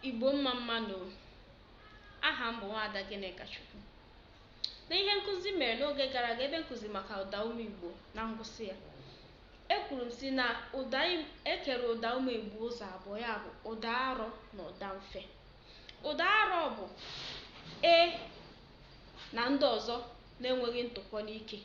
Igbo mma mma nụ. Aha m bụ Nwaada Gịnịkachukwu. N'ihe nkụzi m mere n'oge gara aga ebe nkụzi maka ụda ume Igbo na ngwụsị ya. Ekwuru m sị na ụda e kere ụda ume Igbo ụzọ abụọ ya bụ ụda arọ na ụda mfe. Ụda arọ bụ e na ndị ọzọ na-enweghị ntụpọ n'ike.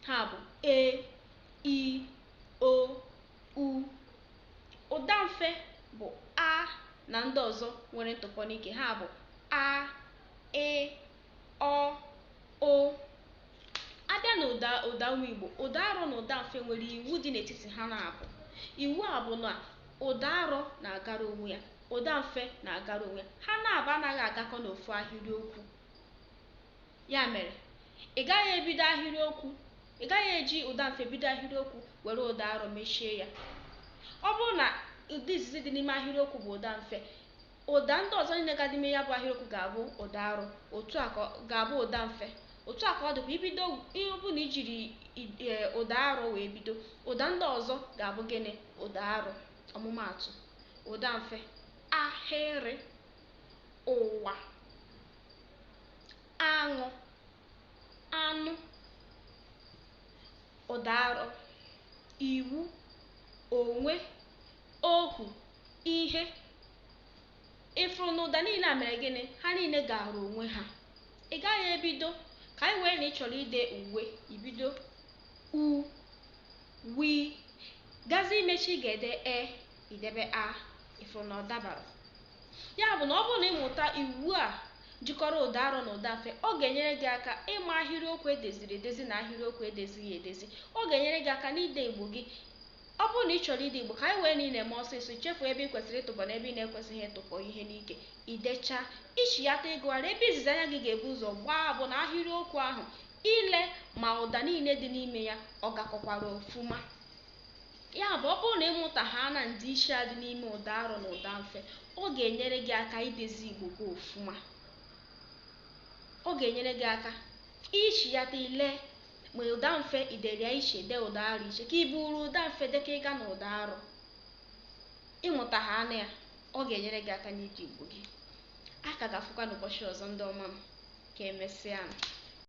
Ha bụ e, i, o, u. Ụdamfe bụ a na ndị ọzọ nwere ntụpọ n'ike ha bụ a, ị, ọ, ụ. A bịa na ụdaume Igbo, ụda arọ na ụda mfe nwere iwu dị n'etiti ha naabọ. Iwu a bụ na ụda arọ na-agara onwe ya, ụda mfe na-agara onwe ya. Ha naabọ anaghị agakọ n'ofu ahịrịokwu. Ya mere, ị gaghị ebido ahịrịokwu, ị gaghị eji ụda mfe bido ahịrịokwu were ụda arọ mechie ya. Ọ bụrụ na ụda izizi dị n'ime ahịrịokwu bụ ụda mfe, ụda ndị ọzọ niile ga-adị n'ime ya bụ ahịrịokwu ga-abụ ụda arọ, otu a ka ga-abụ ụda mfe. Otu a ka ọ dịkwa i bido ọ bụrụ na i jiri e, ụda arọ wee bido, ụda ndị ọzọ ga-abụ gịnị? Ụda arọ. Ọmụmaatụ, ụda mfe, ahịrị, ụwa. aṅụ anụ ụda arọ iwu onwe ohu ihe ị fụrụ na ụda niile a mere gịnị ha niile gara onwe ha ị gaghị ebido ka anyị wee na ị chọrọ ide uwe i bido u wi gazi imechi ị ga-ede e i debe a ị fụrụ na ọ dabarọ Ya bụ na ọ bụrụ na ị mụta iwu a jikọrọ ụdaarọ na ụdamfe, ọ ga-enyere gị aka ịma ahịrịokwu e deziri edezi na ahịrịokwu e dezighị edezi. Ọ ga-enyere gị aka n'ide Igbo gị. Ọ bụrụ na ị chọrọ ide Igbo ka anyị wee na ị na-eme ọsịsọ, i chefuo ebe i kwesịrị ịtụpọ na ebe ị na-ekwesịghị ịtụpọ ihe n'ike, i dechaa, i chiyata ịgụgharị, ebe izizi anya gị ga-ebu ụzọ gbaa bụ na ahịrịokwu ahụ, ile ma ụda niile dị n'ime ya ọ gakọkwara ofuma. Ya bụ, ọ bụrụ na ị mụtahaala ndịiche a dị n'ime ụdaarọ na ụdamfe, ọ ga-enyere gị aka idezi Igbo gị ofuma. Ọ ga-enyere gị aka ichiyata ile ma ụdamfe i dere ya iche dee ụdaarọ iche ka i buuru ụdamfe dekọ ịga na ụdaarọ. Ị mụtahaala ya, ọ ga-enyere gị aka n'ide Igbo gị. A ka ga-afụkwa n'ụbọchị ọzọ ndị ọma m. Ka emesịanụ.